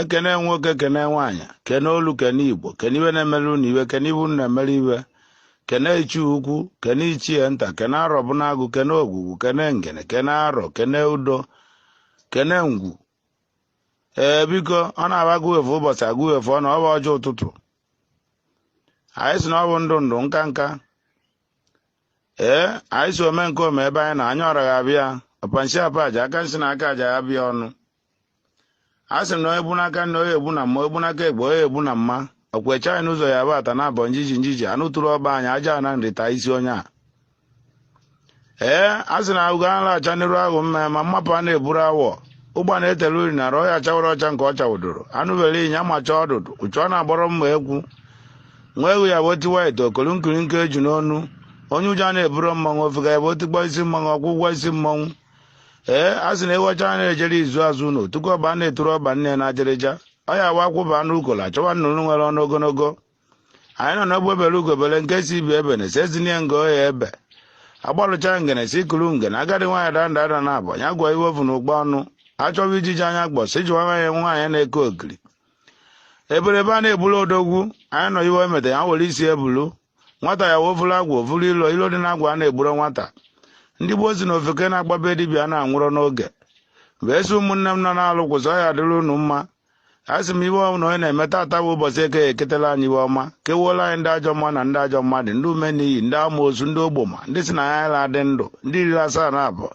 ekene nwoke kene nwaanyị kene olu kene igbo kene iwe na-emere unu iwe kene ibu na-emere iwe kene ichie ukwu kene ichie nta kene arọ bi n'agụ kene ogwugwu kene ngene kene arọ kene udo kene ngwu ee biko ọ na-aba agụ efu ụbọchị agụ efu ọ na ọ bụ ọjị ụtụtụ anyị si na ọ bụ ndụ ndụ nka nka ee anyị si ome nke ome ebe anyị na anya ọra ga-abịa ọpa nshi apa aja aka nsi na aka aja ya ba ya ọnụ a sị m na onye bu n'aka nni onye egbu na mma onye bu n'aka ekpe onye egbu na mma ọkwụ eche anyị n'ụzọ ya bata na abọ njiji njiji anụ tụrụ ọba anyị aja na nri taa isi onye a ee a sị na ahụgo anụ acha n'iru ahụ mma ma mmapụ a na-eburu awọ ụgba na-etele uri na ọhịa chawara ọcha nke ọ chawụdoro anụ bere ịnya macha ọdụdụ uchu ọ na-agbọrọ mma egwu nwa egwu ya bụ otiwa ite o kolu nkirika eju n'onu onye ụjọ na-eburu mmanwụ ofega ya bụ otikpọ isi mmanwụ ọ kwụọ ụgwọ isi mmanwụ ee a sị na ewu ọcha na-ejere izu azụ ụlọ tupu ọba na-eturu ọba nne na ajịrịja ọ ya wa akwụba anụ ukola achọwa nnụnụ nwere ọnụ ogologo anyị nọ n'egbe bere ugo bere nke si ibe ebena esi ezinye nga ọ ya-ebe agbalụcha ngene si kuru ngene agadi nwaanyị daa nda ada naabọ ya agụa iwe o vu na ụkpa ọnụ achọwa ijiji anya gbọ si jiwa nwaanyị nwaanyị na-eke ogiri eberebe a na-ebulu odogwu anyị nọ iwe emeta ya were isi bulu nwata ya wee vuru agwụ vuru ilo ilo dị n'agwụ a na-egburo nwata ndị gboo si na ofeke na-agba be dibịa na-anwụrụ n'oge wee sị ụmụnne m nọ n'alụ kwụsị ọ ya-adịrị unu mma a sị m iwe ọbụla onye na-eme tata bụ ụbọchị eke eketela anyị iwe ọma kewuola anyị ndị ajọ mma na ndị ajọ mmadụ ndị ume n'iyi ndị amoosu ndị ogboma ndị si na ya anyị na-adị ndụ ndị iri asaa na abụọ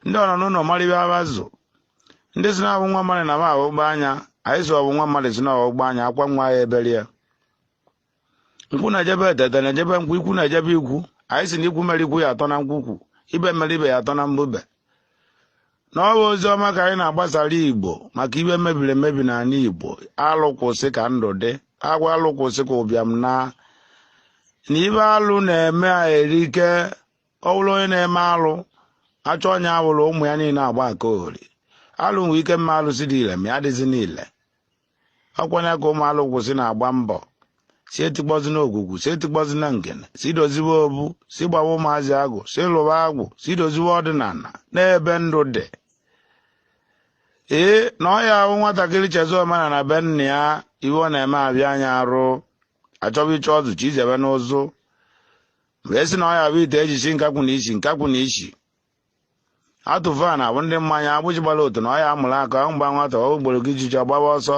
ndị ọ nọ n'ụlọ mara ibe abazụ ndị si na-abụ nwa mmadụ na m ahụgba anya anyị si ọbụ nwa mmadụ si na ọgbụgba anya akwa nwa ya ebere ya nkwụ na-eje be etete na-eje be nkwụ ikwu na-eje be ikwu anyị si na ikwu mere ikwu ya atọ na nkwukwu ibe mere ibe ya atọ na mbube na ọ bụ ozi ọma ka anyị na-agbasara igbo maka ive mebiri emebi n'ala igbo alụ kwụsị ka ndụ dị agwa alụ kwụsị ka ụbịam naa na ive alụ na-eme erike ọ bụrụ onye na-eme alụ achọ onye awụrụ ụmụ ya niile agba aka ori alụ nwee ike mee alụsị dị ile ma ya adịzina ile ọ kwa nya ka ụmụ alụ kwụsị na-agba mbọ si etikpọzina ogwugwu si etikpọzina ngene si doziwe obu si gbawa ụmụazị agwụ si lụwa agwụ si doziwe ọdịnala na ebe ndụ dị ee na ọ ya-abụ nwatakịrị chezọ omenala be nna ya iwe ọ na-eme abịa anya arụ achọba ịchọ ọzụ chi izebe n'ụzụ wee si na ọ ya bụ ite e ji shi nkakwụ na isi nkakwụ na isi atụva na ọ bụ ndị mmanya egbu ji gbara otu na ọ ya amụrụ aka aṅụ gba nwata okporo ijiji ọ gbaba ọsọ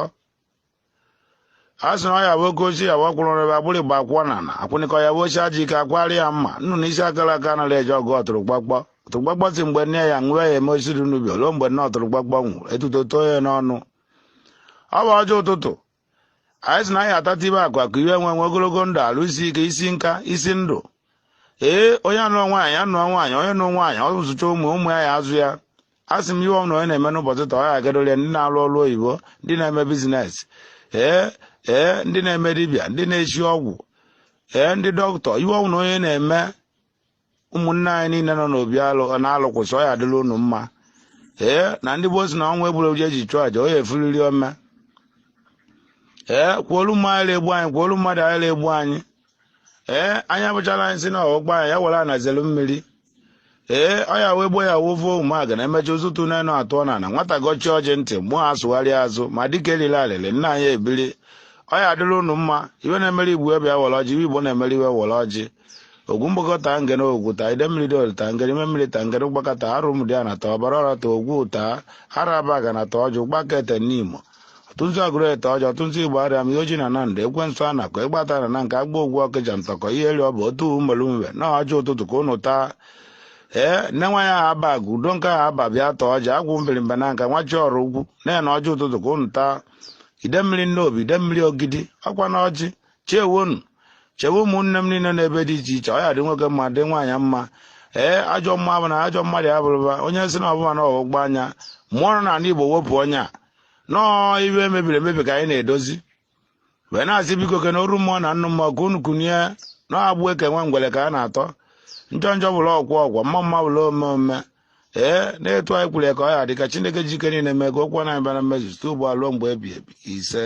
a sị na ọ ya bụ oke ochie ya bụ ọkwụrụ rebe agbụrụ igba akwụkwọ na na akwụnịkọ ya bụ ochie aji ike akwari ya mma nnu na isi akara aka anaghị eji ọgụ ọtụrụkpọkpọ ọtụrụkpọkpọ sị mgbe nne ya nwụọ ya eme osiri n'ubi ruo mgbe nne ọtụrụkpọkpọ nwụrụ etuto too ya n'ọnụ ọ bụ ọjị ụtụtụ anyị sị na anyị atata ibe akụ akụ iwe enwe enwe ogologo ndụ arụ isi ike isi nka isi ndụ ee onye anụọ nwaanyị anụọ nwaanyị onye nụ nwaanyị ọ zụcha ụmụ ụmụ ya ya azụ ya a sị m iwe ọbụna onye na-eme n'ụbọchị taa ọ ya agadole ndị na-alụ ọrụ oyibo ndị na-eme bizines ee ee ndị na-eme dibịa ndị na-esi ọgwụ ee ndị dọkịta iwe ọbụna onye na-eme ụmụnne anyị niile nọ n'obi alụ na-alụkwụsị ọ ya adịla unu mma ee na ndị gboo sị na ọnwa egburu ji e ji chụọ aja ọ ya efuriri ome ee kwuolu mma anyị egbu anyị kwuolu mmadụ anyị egbu anyị ee anya bụchara anyị sị na ọgbọ anyị ya were anazelu mmiri ee ọ ya wee gbo ya wovo ụmụaka na-emecha ụzụtụ n'enu atụọ na na nwata gọchie ọjị ndị mụọ asụgharịa azụ ma dịka eriri alịrị nna anyị ebiri ọ ya adịla unu mma iwe na-emere igbo ebe ya were ọjị iwe igbo na-emere iwe were ọjị ogwu mgbakwu taa ngene ogwu taa ide mmiri dị olu taa ngene ime mmiri taa ngene ụgbaka taa arọ ụmụdiana taa ọbara ọra taa ogwu taa arọ abagana taa ọjị ụgbaka ete n'imo ọtụntụ agụrụ ete ọjị ụtụtụ igbariam iyi oji na nando ekwensu anaku ịgbata na na nke agba ogwu ọkịja ntọkọ ihe eri ọ bụ otu umelu mwe na ọjị ụtụtụ ka unu taa ee nne nwa ya aba agụ udo nke ahụ aba bịa taa ọjị agwụ mbirimba nanka nwọcha ọraukwu na neni ọjị ụtụtụ ka unu taa ide mmiri nnobi ide mmiri ogidi ọkwa na ọjị chewenụ chewe ụmụnne m niile n'ebe dị iche iche ọ ya dị nwoke mma dị nwaanyị mma ee ajọ mma bụ na ajọ mmadụ ya bụrụba onye sị na ọbụma na ọgbụgba anya mụọ nọ n'ala igbo wepụ onye a nọọ iwe mebiri emebi ka anyị na-edozi wee na-asị biko ke na oru mmụọ na nnụ mmụọ ka unu kunie na agbụ e ke nwa ngwere ka a na-atọ njọ njọ bụrụ okwu okwu mma mma bụrụ ome ome ee na etu anyị kwuru ya ka ọ ya dị ka chineke ji ike niile mee ka okwu ọnụ anyị bịa na mmezu site ugbu a ruo mgbe ebi ebi ise